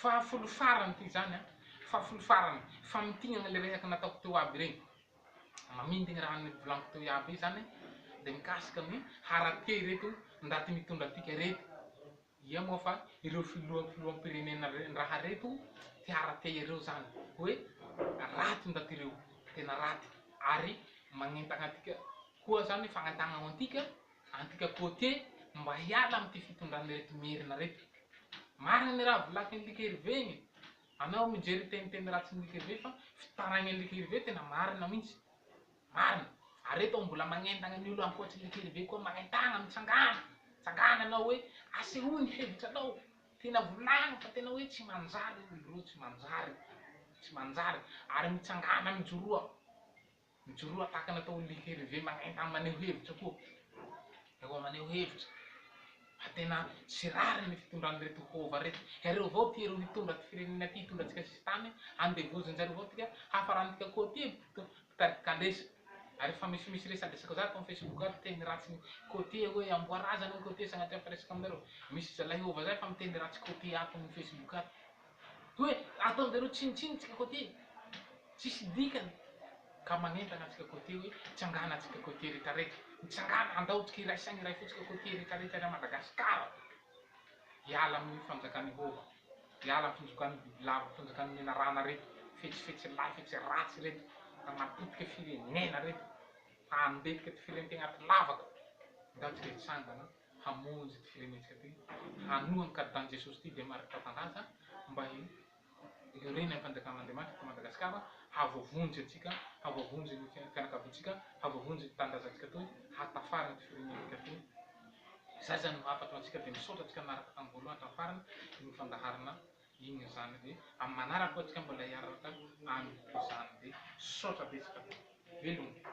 Fahafolo farany ity izany an! Fahafolo farany! Famintinana ilay resaka nataoko teo aby ireny. Mamintigny raha ny volaniko teo iaby izany dia mikasika ny haratia ireto ndaty mitondra antika ireto. Ia moa fa ireo filoha filoham-pirenena raha reto te haratia ireo izany hoe raty ndaty ireo, tena raty ary magnentana antika koa izany fagnentana antika Antika côtier mba hiala amin'ity fitondran'ireto merina reto. Marina ny raha volakin'i Like Hervé igny. Anao mijery teniteny ratsin'i Like Hervé fa fitaraignan'i Like Hervé tena marina mintsy. Marina. Ary eto mbola magnentagna ny olo ankoatry Like Hervé koa magnentagna mitsangana. Tsangana anao hoe asehoy ny hevitranao. Tena volagno fa tena hoe tsy manjary olo reo tsy manjary. Tsy manjary. Ary mitsangana mijoroa. Mijoroa atakana tao amin'ilay herve manentana maneho hevitra koa ireo maneho hevitra fa tena tsy rariny ny fitondran'ireto hova ireto. Iareo avao ity ireo nitondra ity firenena ity hitondra antsika sisintany handevozin-jareo avao tika hafarantika koa ity mpitarika kalesa. Ary efa misy misy resadresaka zany tao facebook ary miteny ratsy côtier hoe amboa razana ny côtier sagnatria fa resaka aminareo. Misy zalahy hova zay fa miteny ratsy côtier ato amin'ny facebook ato. Hoe ataonjareo tsinontsinona antsika côté tsisy dikany ka manentana antsika côté hoe tsangana antsika côté rehetra rehetra mitsangana andao tsika iray saina iray fo tsika côté rehetra rehetra ery Madagascar hiala amin'io fanjakan i hova hiala am fanjokan'ny bibilava fanjakan'ny menarana reto fetsy fetsy lahy fetsy ratsy reto hanapotika firenena reto handetika firentegna aty lavaka andao tsika hitsangana. hamonjy ity firenentsika ity, hanoa ny karidan'i Jesosy ity dia marika fanaja mba hiorenan'ny fanjakan'Andriamanitra eto Madagasikara, hahavoavonjy antsika, hahavoavonjy ny fianakaviantsika, hahavoavonjy ny tanindrazantsika toy, hahatafara ity firenentsika ity. Izay izany no hafatro antsika dia misaotra antsika nanaraka tamin'ny voalohany hatramin'ny farany iny fandaharana iny izany dia amin'ny manaraka koa antsika mbola hiaraka amin'izany dia misaotra betsaka. Veloma.